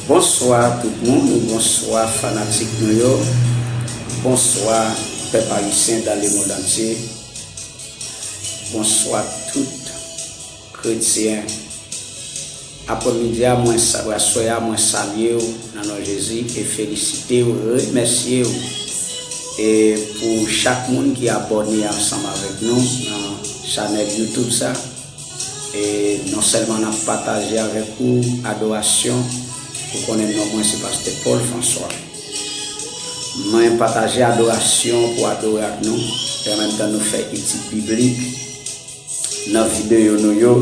Bonswa tout moun bonswa fanatik nou yo bonswa pèp ayisyen dan le mond antye bonswa tout kretyen. Aprè midi a mwen sabre aswè a mwen salyew nan non Jezi e felisitew remèsyew e pou chak moun ki abòne ansanm avèk nou nan chanèl youtube sa e non sèlman nap pataje avèk ou adorasyon ou konnen non mwen se pastè Paul François mwen pataje adorasyon pou adore ak nou e anmenmtan nou fè etid biblik. Nan video nou yo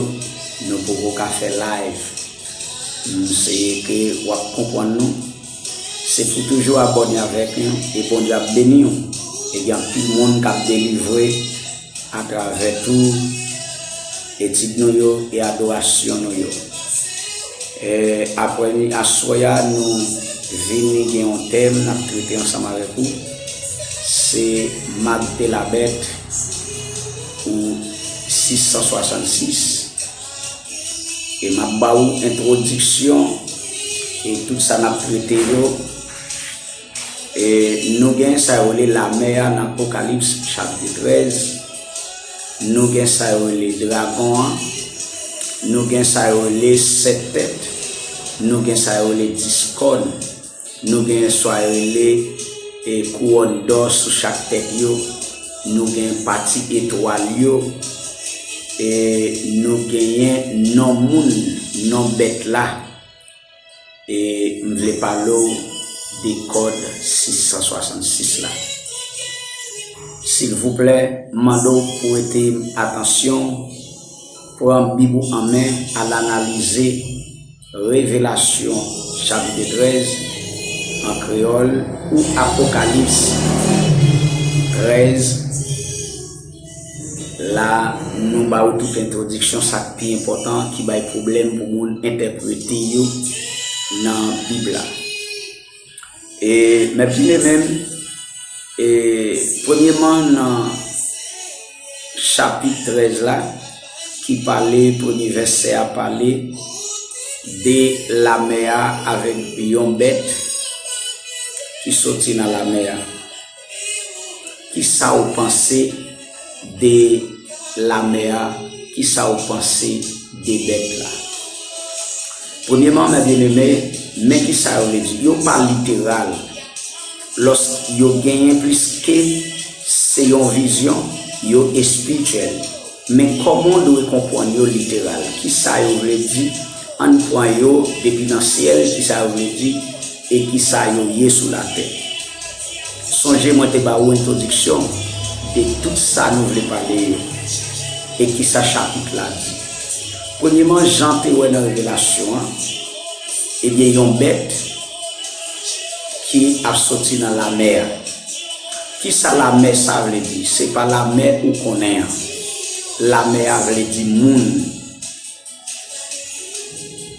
nou poko ka fè live m seye ke wap konpwann nou se pou toujou abòne avèk nou e Bondye ap beniw e gen anpil moun kap delivre atravè tou etid nou yo e adorasyon nou yo aprè nou aswè a nou vini gen yon tèm nap trete ansanm avèk ou se Magte la bèt. pou 666 e map ba ou entwodiksyon e tout sa nap trete yo e nou gen sa yo le lame a nan Apokalips chapit 13 nou gen sa yo le dragon an nou gen sa yo le 7 tèt nou gen sa yo le 10 kòn Nou gen soy rele e kouwòn dò sou chak tèt yo, nou gen pati etwal yo, e nou genyen non moun, non bèt la, e m vle pale w de kòd 666 la. Silvouplè, m mande w prete m atansyon w, pran bib ou an men, al analize. Revelasyon chapit 13, an kreyòl, ou Apokalips 13, la nou ba ou tout entwodiksyon sa k pi enpòtan ki bay pwoblèm pou moun entèprete yo nan Bib la. E mèt vine menm, e premyeman nan chapit 13 la, ki pale, premye vèsè a pale de lamè a avèk yon bèt ki soti nan lamè a. Kisa ou panse de lamè a? Kisa ou panse de bèt la? Premyeman, mè byeneme, men kisa yo vle di. Yo pa literal. Lòs yo genyen plis ke se yon vizyon, yo espirityèl. Men kòman ou dwe konpwann yo literal? Kisa yo vle di? Ann pwan yo depi nan syèl, kisa yo vle di? E ki sa yo ye sou latè. Sonje mwen te ba ou entwodiksyon de tout sa nou vle pale yo e ki sa chapit la di. Premyeman, Jan te wè nan Revelasyon an, ebyen yon bèt ki ap soti nan lamè a. Ki sa lamè sa vle di? Se pa lamè ou konnen an. Lamè a vle di moun.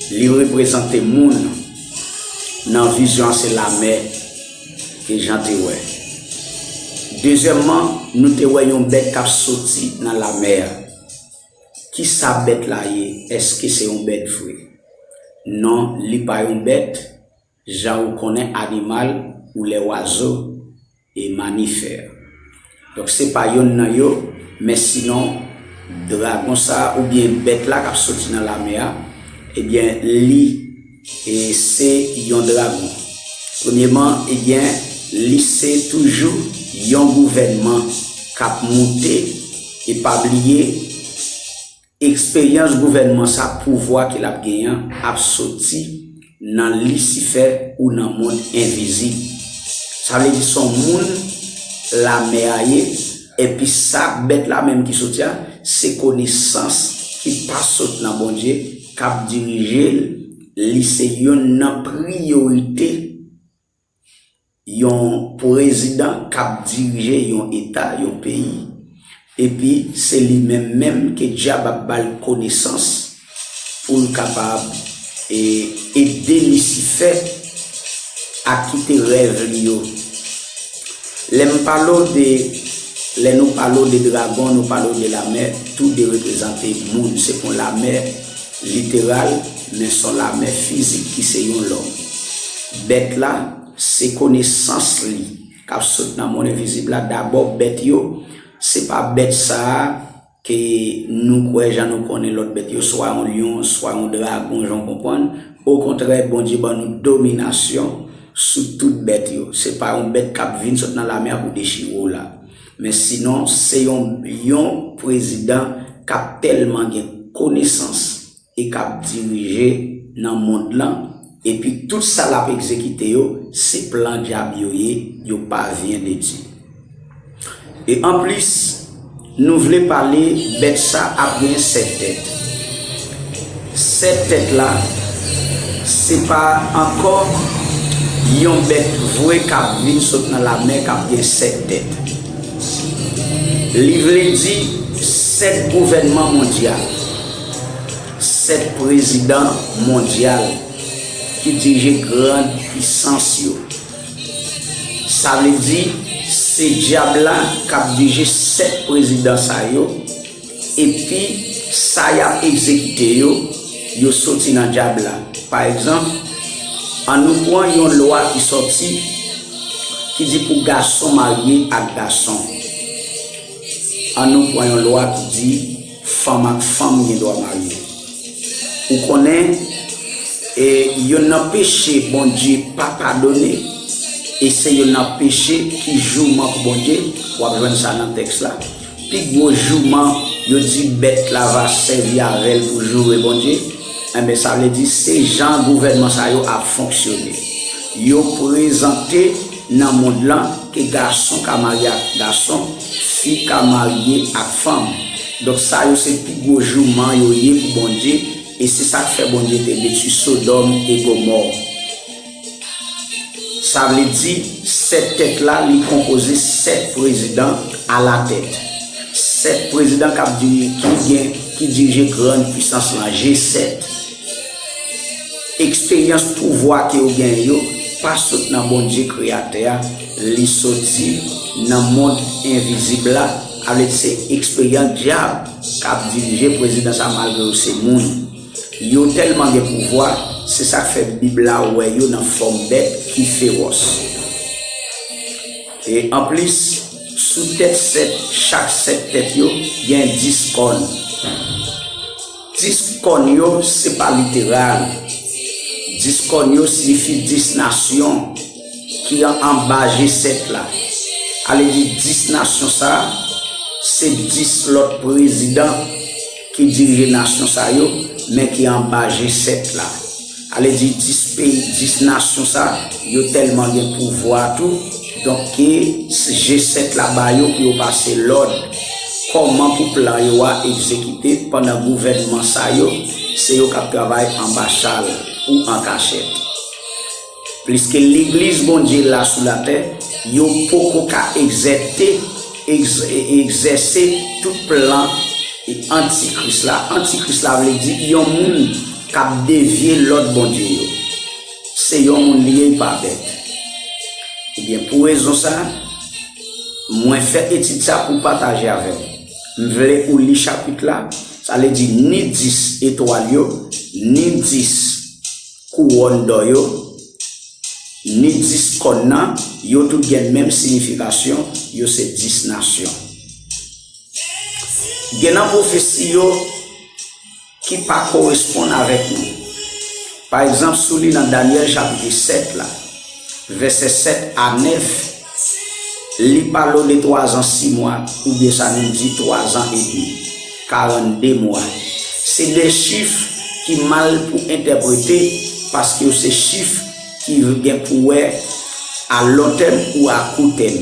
Li reprezante moun nan vizyon se lamè e jan te wè. Dezyèmman, nou te wè yon bèt kap soti nan lamè a. Ki sa bèt la ye? Eske se yon bèt vre? Non, li pa yon bèt. Jan ou konnen animal ou lè wazo e mamifère. Donk se pa yonn nan yo, men sinon dragon sa oubyen bèt la kap soti nan lamè a, ebyen li e se yon dragon. Premyeman ebyen li se toujou yon gouvènman kap moute e pa bliye, Eksperyans gouvènman sa pouvwa ke lap genyen an ap soti nan lisifè ou nan mond envizib. Sa vle di son moun lame a ye epi sa bèt la menm ki soti a se konesans ki pa sot nan Bondye kap dirije l li se yonn nan priyorite yon prezidan k ap dirije yon eta, yon peyi, epi se li menm menm ke dyab ap ba l konesans pou l kapab ede Lisifè a kite rèv li yo. Lè m pale w de, lè nou pale w de dragon, nou pale w de lamè, tou de reprezante moun, se kon lamè. Literal, Men son lamè fizik ki se yon lòm. Bèt la, se konesans li k ap sot nan mond envizib la. Dabò, bèt yo, se pa bèt sa a ke nou kwè jan nou konnen lòt bèt yo, swa yon lyon, swa yon dragon jan w konprann. Okontrè, Bondye ban nou dominasyon sou tout bèt yo. Se pa yon bèt k ap vin sot nan lamè a pou dechire w la. Men sinon se yon yon prezidan k ap tèlman gen konesans e k ap dirije nan mond lan epi tout sa l ap egzekite yo se plan dyab yo ye yo pa vyen de Dye. E anplis nou vle pale bèt sa ap gen 7 tèt. Sèt tèt la se pa ankò yon bèt vre k ap vin sot nan lamè k ap gen sèt tèt. Li vle di sèt gouvènman mondyal, sèt prezidan mondyal ki dirije gran pisans yo. Sa vle di se Dyab la k ap dirije sèt prezidan sa yo. Epi, sa y ap egzekite yo, yo soti nan Dyab la. Pa egzanp, annou pran yon lwa ki soti ki di pou gason marye ak gason. Annou pran yon lwa ki di fanm ak fanm gen dwa marye. Ou konnen, e yonn nan peche Bondye pa padone, e se yonn nan peche ki jouman pou Bondye, w ap jwenn sa nan tèks la. Pi gwo jouman, yo di bèt la va sèvi avè l pou joure Bondye, enben sa vle di se jan gouvènman sa yo ap fonksyone. Yo prezante nan mond lan ke gason ka marye ak gason, fi ka marye ak fanm. Donk sa yo se pi gwo jouman yo ye pou Bondye e se sa k fè Bondye te detwi Sodòm e Gomò. Sa vle di, sèt tèt la, li konpoze sèt prezidan alatèt. Sèt prezidan kap dirije, ki dirije grann pwisans lan, G-7. Eksperyans pouvwa ke yo genyen yo, pa sot nan Bondye kreyatè a, li soti nan mond envizib la, avle di se eksperyans dyab kap dirije prezidan sa malgre yo se moun. Yo tèlman gen pouvwa, se sa k fè Bib la wè yo nan fòm bèt ki fewòs. E anplis, sou tèt sèt chak sèt tèt yo, gen dis kòn. Dis kòn yo se pa literal. Dis kòn yo siyifi dis nasyon. ki anba G-7 la, ale di 10 nasyon sa, se 10 lòt prezidan ki dirije nasyon sa yo, men ki anba G-7 la. Ale di 10 peyi, 10 nasyon sa, yo tèlman gen pouvwa tou, donk ke G-7 la ba yo pou yo pase lòd, kòman pou plan yo a egzekite, pandan gouvènman sa yo, se yo k ap travay anba chal, ou an kachèt. Pliske legliz Bondye la sou latè, yo poko ka egzète, egzèse tout plan antikris la. Antikris la vle di yon moun k ap devye lòd Bondye yo. Se yon moun li ye, li pa bèt. Ebyen, pou rezon sa, mwen fè etid sa pou pataje avè w. M vle ou li chapit la, sa vle di ni 10 etwal yo, ni 10. kouwòn dò yo, ni dis kòn nan, yo tout gen menm siyifikasyon, yo se dis nasyon. Gen nan pwofesi yo ki pa koresponn avèk nou. Pa egzanp, sou li nan Dànyèl chapit 7 la. Vèsè 7 a 9, Li pa lo de twazan simwa, oubyen sa nou di twazan edmi, karannde mwa. Se de chif ki mal pou entèprete paske yo se chif ki gen pou wè a lontèm ou a koutèm.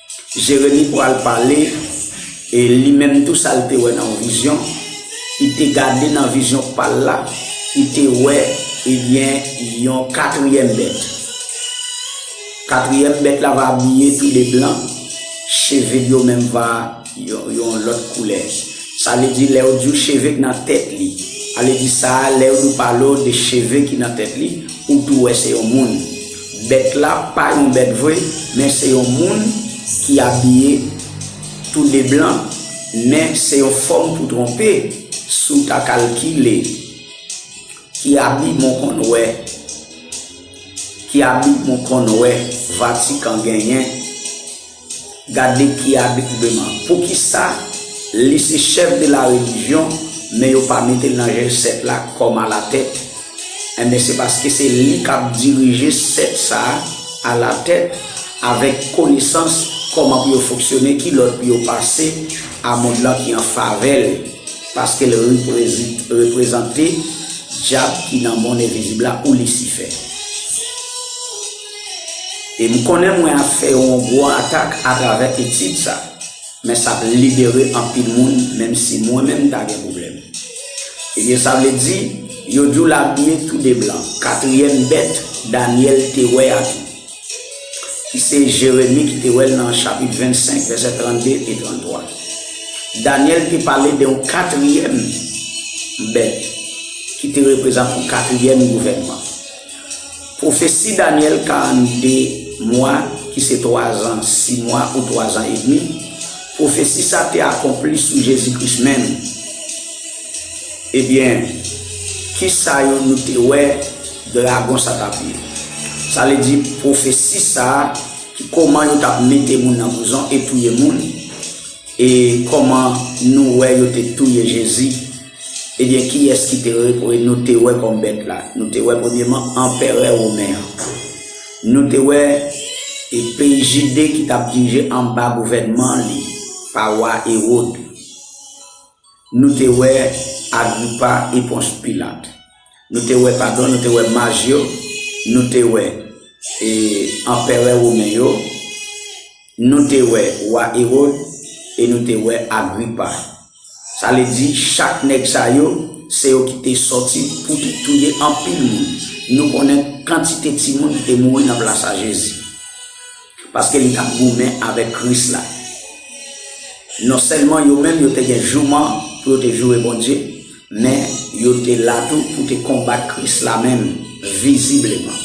Jeremi pral pale, e li menm tou sa l te wè nan yon vizyon, li te gade nan vizyon pa l la, li te wè, ebyen, yon katriyèm bèt. Katriyèm bèt la va abiye tou de blan, cheve l yo menm va yon lòt koulè. Sa vle di lè yo di w cheve k nan tèt li, ale di sa a, lè yo di w pale w de cheve ki nan tèt li, ou tou wè se yon moun. Bèt la pa yon bèt vre men se yon moun ki abiye tou de blan men se yon fòm pou twonpe si w ta kalkile ki abi mwen konn wè ki abi mwen konn wè vatikan genyen. Gad li ki adoubleman. Poukisa li se chef de la religion men yo pa metel nan jel 7 la kom a la tèt enben se paske se li kap dirije 7 sa a la tèt avek konesans koman pou yo fonksyone ki lòd pou yo pase a mond lan ki an favel paskel reprezante djab ki nan mond envizib la ou lisifè. E m konnen mwen ap fè yon gwo atak atravè etid sa. Men sa ap libere anpil moun menm si mwen menm m ta gen pwoblèm. Ebyen sa vle di, yo di w l abiye tou de blan. Katriyèm bèt Danyèl te wè a tou. Ki se Jeremi ki te wè l nan chapit 25 vèsè 32 e 33. Danyèl te pale de yon katriyèm bèt ki te reprezante yon katriyèm gouvènman. Pwofesi Danyèl 42 mwa, ki se twazan si mwa ou twazan edmi, pwofesi sa te akonpli sou Jezi Kris menm. Ebyen, kisa yo nou te wè dragon sa t ap ye? Sa vle di pwofesi sa ki kòman yo t ap mete moun nan prizon e touye moun, e kòman nou wè yo te touye Jezi. Ebyen kiyès ki te nou te wè kòm bèt la? Nou te wè premyeman anperè women an. Nou te wè e peyi Jide ki t ap dirije anba gouvènman li, pa wa Ewod. Nou te wè Agripa e Pons Pilat. Nou te wè, padon, nou te wè maj yo, nou te wè e anperè women yo, nou te wè wa Erod e nou te wè Agripa. Sa vle di chak nèg sa yo, se yo ki te sòti pou te touye anpil moun. Nou konnen kantite timoun ki te mouri nan plas a Jezi. Paske li t ap goumen avèk Kris la. Nonsèlman yo menm yo te gen jouman pou yo te joure Bondye, men, yo te la tou pou te konbat Kris la menm, vizibleman.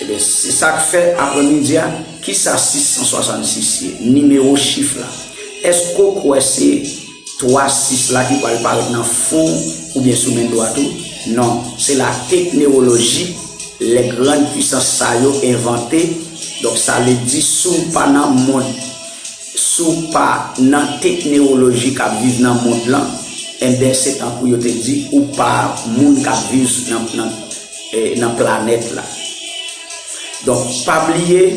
Ebyen, se sa k fè, aprèmidi a, ki sa 666 ye? Nimewo chif la. Èske w kwè se. 3 6 la ki pral parèt nan fon oubyen sou men dwat ou? Non, se la teknewoloji lè grand pwisans sa yo envante, donk sa vle di si w pa nan mond, si w pa nan teknewoloji k ap viv nan mond lan, enben se tankou yo te di ou pa moun k ap viv nan planèt la. Donk pa bliye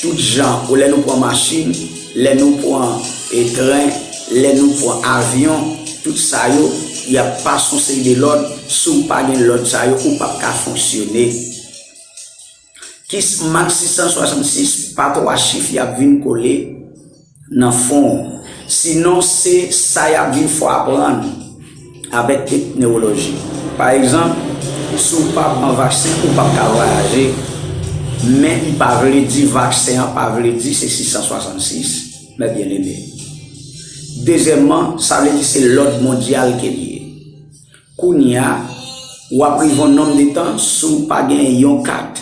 Tout jan pou lè nou pran machin, lè nou pran tren, lè nou pran avyon, tout sa yo, y ap pas on seri de lòd, si w pa gen lòd sa yo, ou p ap ka fonksyone. Kismax 666 pa 3 chif y ap vin kole. nan fon w sinon se sa y ap viv fò w aprann avèk kèk newoloji pa egzanp si w pa pran vaksen ou pap ka vwayaje men li pa vle di vaksen an pa vle di se 666 mè byen eme dezyèmman sa vle di se lòd mondyal ke li ye kounya w ap rive yon nonm de tan si w pa gen yon kat.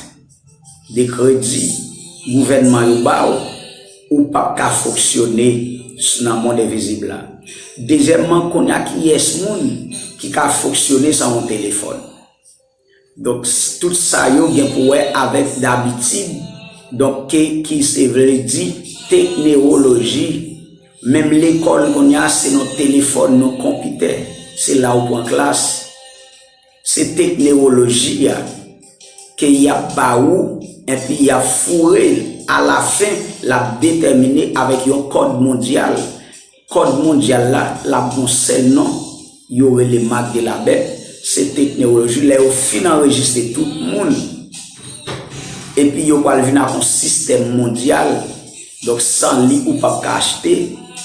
de kredi gouvènman yo ba w, ou pap ka fonksyone nan mond envizib la. Dezyèmman, kounye a kiyès moun ki ka fonksyone san yon telefòn? Donk, tout sa yo gen pou wè avèk dabitid, donk ke ki se vle di teknewoloji. Menm lekòl kounye a se nan telefòn, nan konpitè, se la ou pran klas. Se teknewoloji a ke yap ba ou enpi yap foure l a la fen lap detèmine avèk yon kòd mondyal, kòd mondyal la lap gon sèl non yo rele marque de la bête se teknewoloji lè yo fin anrejiste tout moun epi yo pwal vin ak yon sistèm mondyal. Donk san li ou pap ka achte,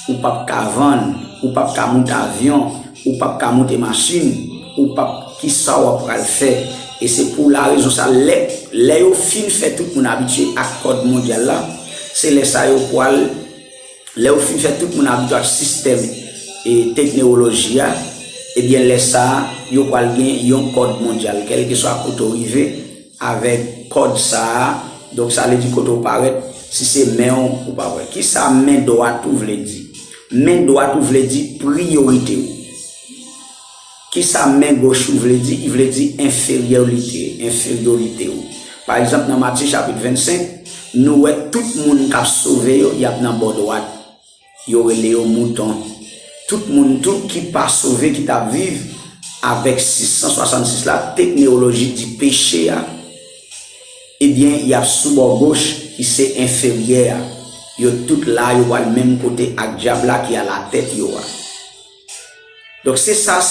ou pap ka vann, ou pap ka moute avyon, ou pap ka moute machin, ou pap kisa wap pral fè? E se pou la rezon sa lè lè yo fin fè tout moun abitye ak kòd mondyal la, se lè sa yo pwal lè yo fin fè tout moun abitye ak sistèm e teknewoloji a, ebyen lè sa yo pwal gen yon kòd mondyal kèlkeswa kote w rive, Avèk kòd sa a, donk sa vle di kote ou parèt, si se men ou, ou pa wè. Ki sa men dwat ou vle di? Men dwat ou vle di priyorite ou. Ki sa men goch ou vle di? Li vle di enferyorite, enferyorite ou. Pa egzanp, nan Matye chapit 25, nou wè tout moun k ap sove yo, y ap nan bò dwat. Yo rele yo mouton. Tout moun tou ki pa sove ki ta viv avèk 666 la tekneoloji di peche a ebyen yap sou bò goch ki se enferyè a yo tout la yo pwal menm kote ak dyab la ki alatèt yo a. Donk se sa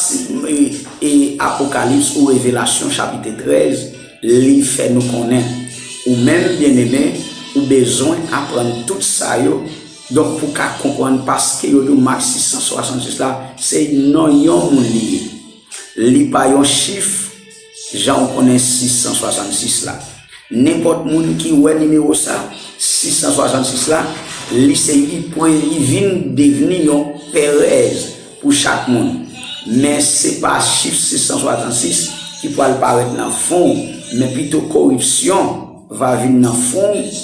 Apokalips ou Revelasyon chapit 13 li fè nou konnen. Ou menm, byeneme, ou bezwen aprann tout sa yo, donk pou w ka konprann paske yo di w Mak 666 la se non yon moun li ye. Li pa yon chif. Jan ou konnen 666 la. Nenpòt moun ki wè nimewo sa, 666 la, li se li pwen li vin devni yon perèz pou chak moun. Men se pa chif 666 ki pwal parèt nan fon ou, men pito koripsyon va vin nan fon ou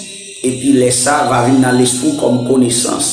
epi lè sa va vin nan lespri w kòm konesans.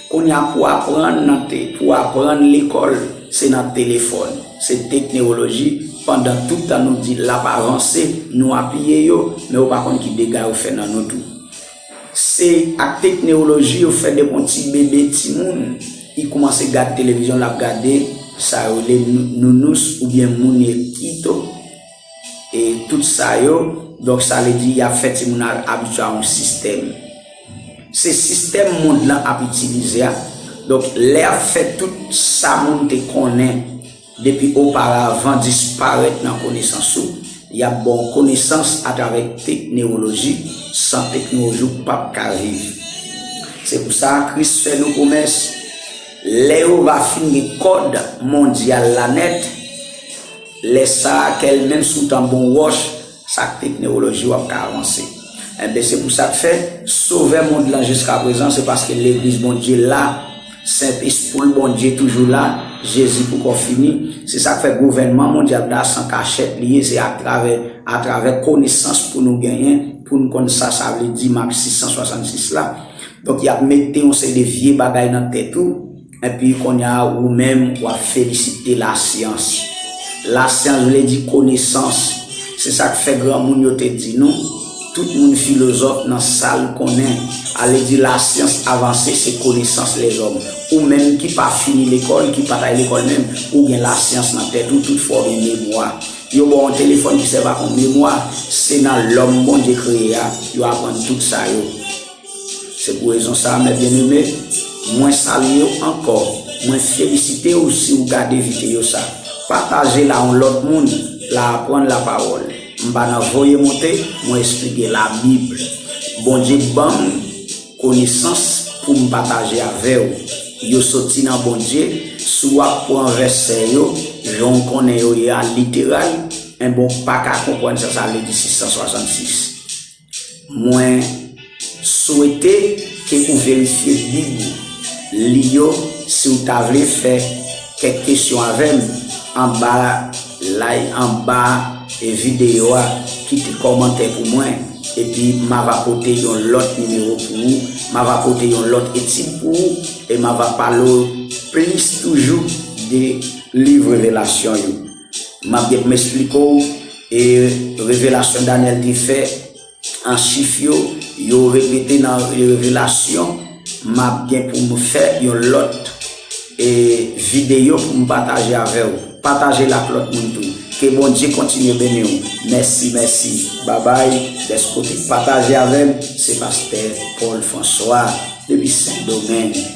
Kounya pou aprann nan te pou aprann lekòl se nan telefòn, se teknewoloji pandan tout tan nou di lap avanse nou apiye yo men yo pa konn ki dega yo fè nan nou tou. Se ak teknewoloji yo fè depi yon ti bebe timoun i koumanse gad televizyon lap gade sa yo rele nounous oubyen moune kito. E tout sa yo, donk sa vle di y ap fè timoun nan abitye a yon sistèm. Se sistèm mond lan ap itilize a. Donk lè y ap fè tout sa moun te konnen depi oparavan disparèt nan konesans ou, y ap ba w konesans atravè teknewoloji san teknewoloji ou p ap ka viv. Se pou sa Kris fè nou pwomès, lè yo va fin gen kòd mondyal la nèt, Lè sa a kè l menm sou tanbou yon wòch, sa k te k newoloji w ap ka avanse. Enben, se pou sa k fè, Sovè mond lan jiskaprezan, se paske Legliz Bondye la, Sent Espou l Bondye toujou la, Jezi poukò fini. Se sa k fè gouvènman mondyal la san kachèt li ye, se atravè atravè konesans pou nou genyen, pou n konn sa sa vle di, Mak 6, 166 la. Donk y ap mete yon seri de vye bagay nan tèt ou, Epi konnya ou menm wap felisite la syans. La syans vle di konesans. Se sak fè granmoun yo te di nou, tout moun filozòf nan sal konnen. Ale di la syans avanse se konesans lèzòm. Ou menm ki pa fini lekòl, ki pat al lekòl menm, ou gen la syans nan tèt ou, tout fwa ou gen memwa. Yo ba w yon telefòn ki sèvi ak yon memwa, se nan lòm Bondye kreye a, yo aprann tout sa yo. Se pou rezon sa a, mè byeneme, mwen salye w ankò, mwen felisite w si w gade videyo sa. Pataje l a yon lòt moun, l a aprann lapawòl. M pa nan voye monte, mwen esplike Labib. Bondye ban m konesans pou m pataje avè w. Yo soti nan Bondye, si w ap pran vèsè yo jan w konnen yo ye a literal, enben w pa ka konprann sa sa vle di 666. Mwen swete ke ou verifye bib ou, li yo si ou ta vle fè kèk kesyon avè m anba lay anba videyo a kite kòmantè pou mwen epi m ava pote yon lòt nimewo pou ou m ava pote yon lòt etid pou ou e m ava pale w plis toujou de liv revelasyon yo. map gen pou m esplike w e revelasyon Danyèl te fè an chif yo, yo repete nan revelasyon, map gen pou m fè yon lòt e videyo pou m pataje avè w, pataje l ak lòt moun tou. Ke Bondye kontinye beni w. Mèsi mèsi babay dèske w te pataje avè m, se pastè Paul François depi sendomeng.